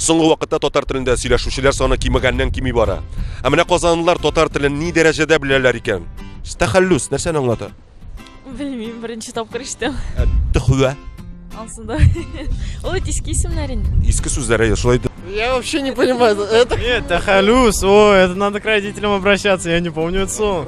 Соңгы вакытта татар телендә сөйләшүчеләр саны кимегәннән кими бара. Ә менә казанлылар татар телен ни дәрәҗәдә беләләр икән? Тәхәллүс нәрсәне аңлата? Белмим, беренче тапкыр ишетәм. Ә, Төхвә. Ансында. Ул иске исемнәр инде. Иске сүзләр әйе, шулай Я вообще не понимаю. Это... Нет, Тахалюс, о, это надо к родителям обращаться, я не помню это слово.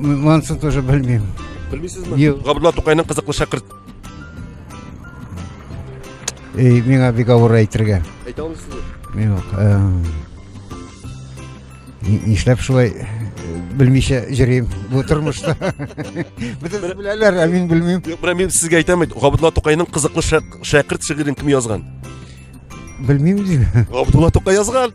Монсын тоже белмим. Белмисезме? Юк. Габдулла Тукайның кызыклы шәкырт. Эй, миңа бик авыр әйтергә. Әйтә алмыйсызмы? Мин юк. Нишләп шулай белмичә җөрим бу тормышта бөтен беләләр ә мин белмим юк менә мин сезгә әйтәм бит габдулла тукайның кызыклы шәкерт шигырен кем язган белмим дим габдулла тукай язган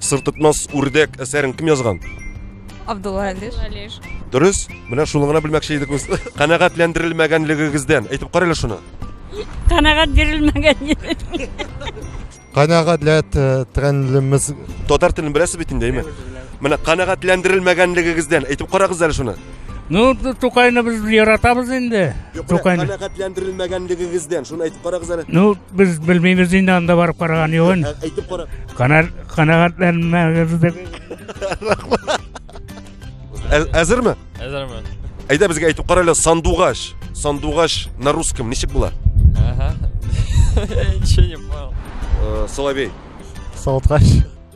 Сыртытмас үрдәк әсәрен кем язган? Абдулла Алиш. Алиш. Дөрес. Менә шуны гына белмәкче идек без. Канәгатьләндерелмәгәнлегегездән. Әйтеп карыйла шуны. Канәгать бирелмәгән иде. Канәгатьләндерелмәс. Татар телен беләсез бит инде, әйме? Менә канәгатьләндерелмәгәнлегегездән. Әйтеп карагыз әле шуны. Ну, Тукайны без яратабыз инде. Тукайны. Канәгатьләндерелмәгәнлегегездән. Шуны әйтеп карагыз әле. Ну, Без белмибез инде анда барып караган югын. Ә, әйтеп кара. Канат канагатланмагыз дип. Ә- Әзерме? Әзермен. Әйдә безгә әйтеп кара әле сандугач. Сандугач на русском ничек була? Ага. Я ничего не понял. Э, Соловей. Сауткач.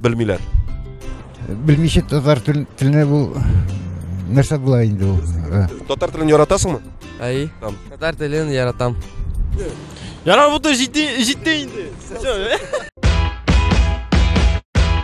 белмиләр. Белмичә татар теленә бу нәрсә була инде ул. Татар телен яратасыңмы? Әй. Татар телен яратам. Яра бу то җитте, җитте инде. Все.